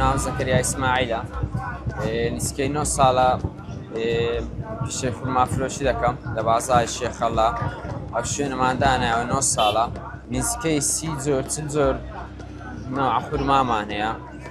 ناو زەکەریا ئیسماعیلە نسکەی 9 ساڵە پیشێ فورما فرۆشی دەکەم لە بازای شێخەڵا ئەو شوێنماندانایەوە 9 ساڵە نزیکەی سی زۆر چل زۆر ناخورمامان هەیە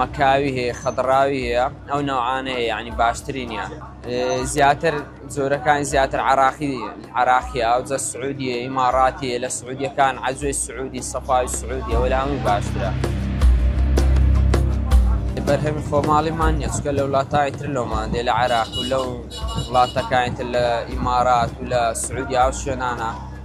مەکاوی هەیە خەدڕاوی هەیە ئەو نەوعانە هەیە یعنی باشترینیان زیاتر جۆرەکان زیاتر عراقی عراقی ئاوجە سعودیە ئیماڕاتیە لە سعودیەکان عزوی سعودی سەفای سعودی ئەوە لە هەمووی باشترە بەرهەمی خۆماڵیمان نیە چکە لە وڵاتای تر لەمان دێ لە عراق و لەو وڵاتەکانی تر لە ئیمارات و لە سعودیا و شوێنانە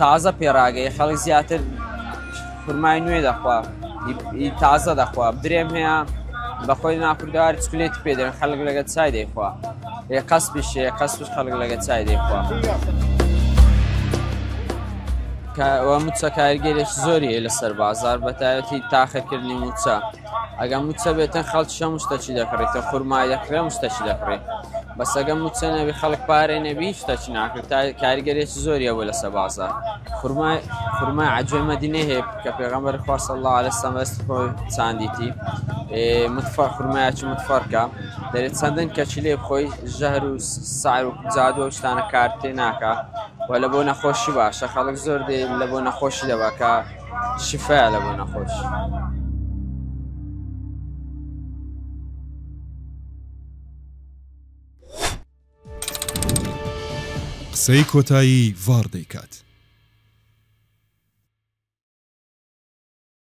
تازە پێراگەی خەڵک زیاتر خورمای نوێ دەخوا تازە دەخوا درێم هەیە بەخۆی ناکردار چکلێت پێدەن خەڵک لەگە چای دەیخوا ێ قەس پیشێ قەس خەڵک لەگە چای دەیخوا. موچە کارگەرێک زۆری لەسەر بازار بەتایەتی تاخەکردنی موچە ئەگە موچە بێتن خەڵک شە مشتە چی دەکڕی کە خورمای دەکڕێ مشتە چی دەکڕی بەسەگە موچە نەبی خەڵک پارەی نەبی شتە چی ناکرێت تا کاریگەرێکی زۆریە بۆ لەسە بازە خورمای خورمای عجێ مەدینێ هەیە کە پێغەمبەر خواست الله عليه سەمەست خۆی چاندیتی متفەر خورمایەکی متفەرکە دەرێت چەندن کەچی لێ خۆی ژەهر و سعر و جادوە شتانە کارتێ ناکە و لە بۆ نەخۆشی باشە خەڵک زۆر دێ لە بۆ نەخۆشی دەبکە شفا لە بۆ نەخۆش. قسەی کۆتایی ڤاڕ دەیکات.